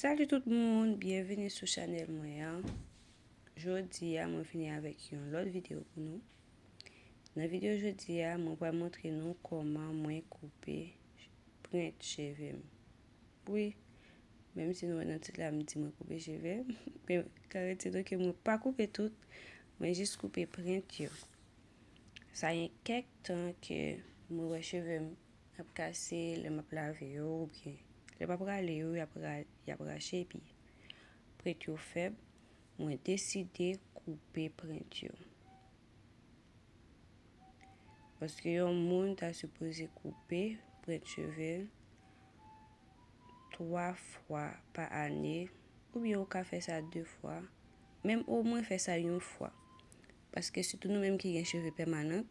Salut tout moun, byenvini sou chanel mwen an Jodi a mwen vini avèk yon lòt videyo pou nou Nan videyo jodi a mwen pral montre nou koman mwen koupe prent cheve m Wi, menm si nou wè nan tit la m di mwen koupe cheve Men karite nou ke mwen pa koupe tout, mwen jis koupe prent yo Sa gen kèk tan ke mwen wè cheve m Y ap kase lè m ap lave yo oubyen lè m ap rale yo, y ap rache epi prent yo fèb, mwen deside koupe prent yo. Paske yon moun ta sipoze koupe prent cheve l 3 fwa pa ane oubyen ou ka fè sa 2 fwa, menm omwen fè sa yon fwa. Paske sitou nou menm ki gen cheve pèmanan.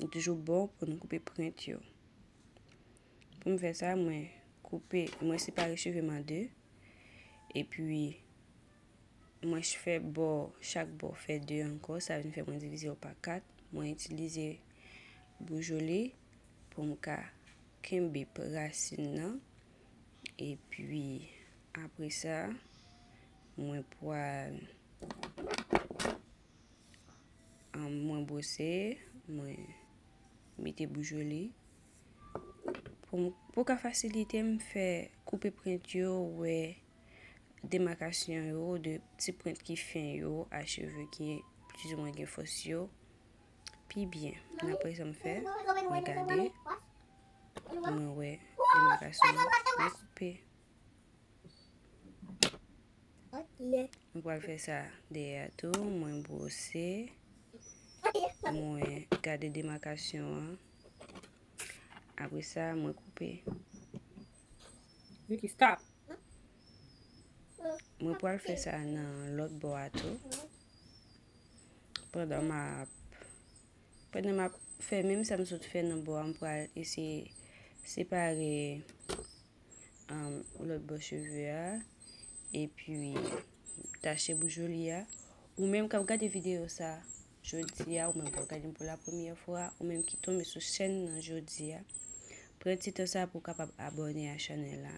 Li toujou bon pou nou koupe print yo. Pou m fè sa, mwen koupe, mwen separe cheve m an 2. E pi, mwen fè bò, chak bò fè 2 ankò. Sa vin fè mwen divize yo pa 4. Mwen itilize boujoli pou m ka kenbe rasin nan. E pi, apre sa, mwen pwal. Mwen bwose, mwen mete boujoli. Pou ka fasilite m fè koupe prent yo, wè demakasyon yo de ti prent ki fen yo a cheve ki plizoumwen gen fòs yo. Pi byen, mwen apre sa m fè, mwen gade, mwen wè demakasyon yo, mwen koupe. Mwen pral fè sa dèyè a tou, mwen bwose, mwen gade demakasyon an, apre sa mwen koupe. Vicky, stop! Mwen pral fè sa nan lòt bò a tou, pandan m ap, pandan m ap fè menm sa m sot fè nan bò a, m pral eseye separe. lòt bò cheve a, epi tache bouch Joly a, ou menm kap gade videyo sa jodi a, ou menm kap gade m pou la premyè fwa, ou menm ki tonbe sou chèn nan jodi a, pran ti tan sa pou w kapab abòne a chanèl la,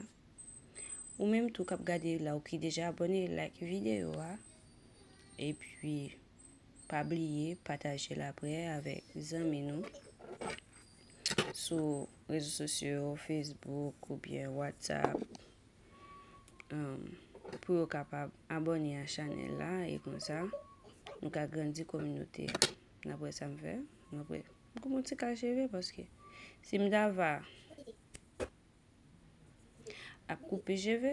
ou menm tou kap gade la ou ki deja abòne like videyo a, epi pa bliye pataje l aprè avèk zanmi nou. sou rezo sosyo yo, Facebook ou byen WhatsApp pou yo kapab abone a chanel la e konsa nou ka grandi kominote a. Nan pou e sa m fè. Nan pou e. M kou moun ti kal cheve paske si m dava. Ap koupe cheve,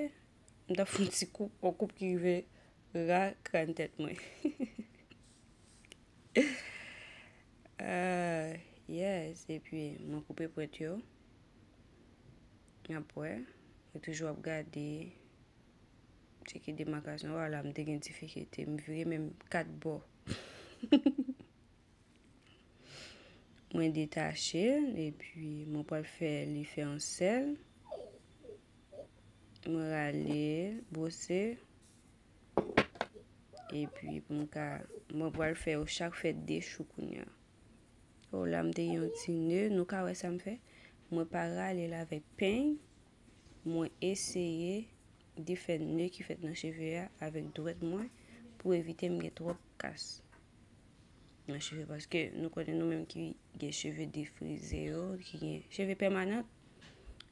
m ta fon ti koup, on koup ki rive ra kran tèt mwen. Yes, epi mwen koupe pwent yo, nap wè, mwen toujou ap gade, cheke demakasyon, wala m te gen difikilte, m vire menm kat bò. Mwen detache l epi mwen pral fè li fè yon sèl. Mwen rale, bwose. Epi pou m ka, mwen pral fè yo chak fè 2 chou kounya. O la m te gen yon ti ne, nou ka wè sa m fè? Mwen pa rale l avèk peny, mwen eseye defè ne ki fèt nan cheve a avèk dwèt mwen pou evite m gen twòp kas. nan cheve paske nou konnen nou menm ki gen cheve defrize yo, ki gen cheve pèmanan,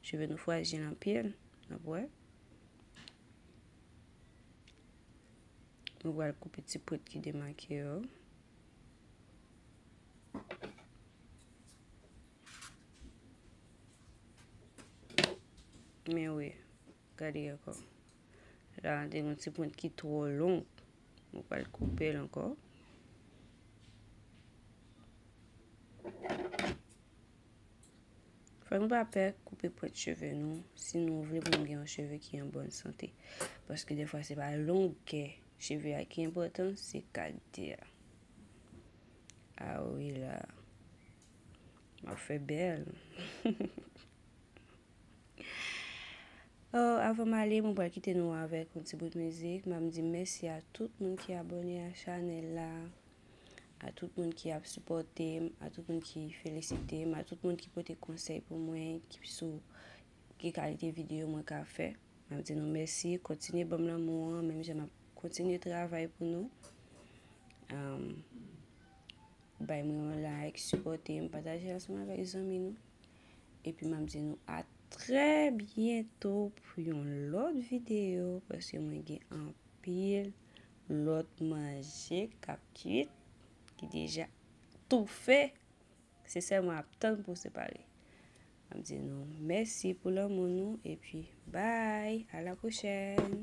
cheve nou frajil anpil, n ap wè. Nou pral koupe ti pwent ki demake yo. Men wè. Gade ankò. La a gen yon ti pwent ki twò long. Mwen pral koupe l ankò. Fòk nou pa pè koupe pwent cheve nou si nou vle pou nou gen yon cheve ki an bòn sante. Paske defwa se pa longè cheve a ki enpòtan, se kalite a. A wi la. M ap fè bèl. Oh avan m ale mwen pral kite nou avèk yon ti bout mizik map di mèsi a tout moun ki abòne a chanèl la a tout moun ki ap sipòte m a tout moun ki felisite m a tout moun ki pote konsèy pou mwen ki sou ki kalite videyo mwen ka fè map di nou mèsi kontinye banm lanmou an menm jan map kontinye travay pou nou bay mwen yon like sipòte m pataje ansanm avèk zanmi nou Epi map di nou a trè byento pou yon lòt videyo paske mwen gen anpil lòt manje kap kuit ki deja toufe se sèlman ap tann pou separe. Map di nou mèsi pou lanmou nou epi bay a la pwochèn.